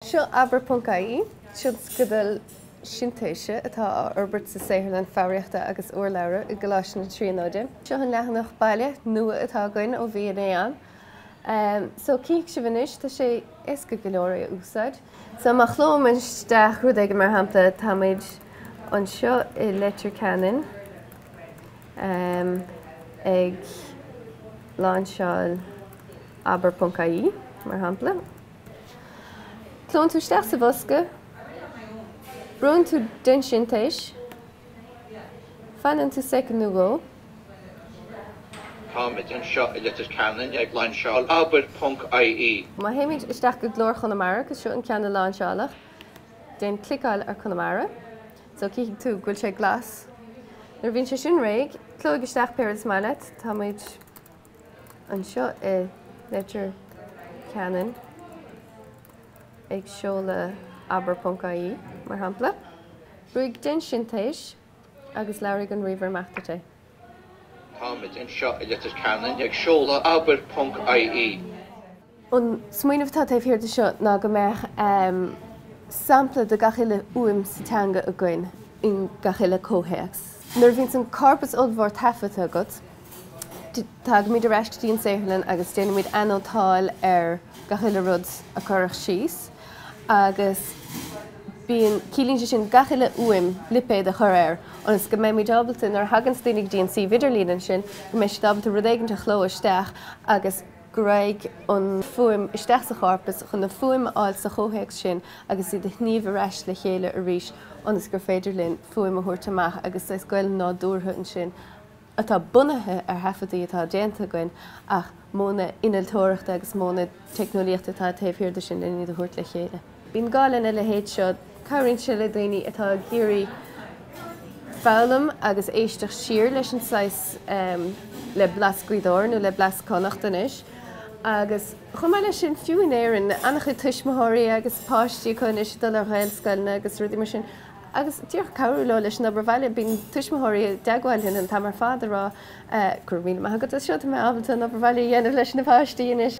Seo abair ponc ie, tionscadal sintéise atá á fhorbairt sa saotharlann foghraíochta agus urlabhra i gColáiste na Tríonóide. Seo an leathanach baile nua atá againn ó mhí an Mheán so cífidh sibh anois, tá sé éasca go leor é a úsáid. So má chlóim isteach rud éigin mar shampla, táimid anseo i Leitir Ceanainn. amh ag lainseáil abair.ie, mar shampla. Clónn tú isteach sa bhosca, brúnn tú déan sintéis, fanann tú soicind nó dhó. Táimid anseo i Leitir Ceanainn ag lainseáil abair.ie. Má théimid isteach go Glór Chonamara, agus seo an ceann a lainseáladh, déan cliceáil ar Conamara. so cífidh tú go bhfuil sé glas. Nuair a bhíonn sé sin réidh, clóigh isteach pé rud is maith leat, táimid anseo i Leitir Ceanainn ag seoladh abair ponc ie mar shampla, brúigh déan sintéis agus labhróidh an ríomhaire amach duit é. táimid anseo i Leitir Ceanainn ag seoladh abair ponc aí. An smaoineamh atá taobh thiar de seo ná go mbeadh sampla de gach uile fhuaim sa teanga againn in gach uile comhthéacs. Nuair a bhíonns an corpus ollmhór taifeadta agat, tagaimid ar ais go dtí an saotharlann agus déanaimid anótáil ar gach uile rud a cuireadh síos agus bíonn, ciallaíonn sé sin gach uile fhuaim, lipéad a chur air ionas go mbeimid ábalta, nuair a thaganns daoine go dtí an suíomh idirlín ansin, go mbeidh siad ábalta rud éigint a chló isteach agus. go raghaidh an fuaim isteach sa chorpas chun an fuaim a fháil sa chomhthéacs sin agus iad a shníomh ar ais le chéile arís ionas gur féidir linn fuaim a thabhairt amach agus saghas Gaeilge nádúrtha ansin atá bunaithe ar thaifeadtaí atá déanta againn ach modhanna innealtóireachta agus modhanna teicneolaíochta atá taobh thiar de sin len iad a thabhairt le chéile. Bíonn gá lena leithéid seo, cabhraíonn sé le daoine atá ag iarraidh foghlaim agus éisteacht siar leis an saghas le blas Gaoth Dobhair nó le blas Connacht anois agus chomh maith leis sin fiú in Éirinn an-chuid tuismitheoirí agus páistí acu anois ag dul ar Ghaelscoileanna agus rudaí mar sin agus díreach cabhrú leo leis an obair bhaile. Bíonn tuismitheoirí i dteagmháil linn an t-am ar fad ag rá Go raibh míle maith agat as seo, tá mé ábalta an obair bhaile a dhéanamh leis na páistí anois!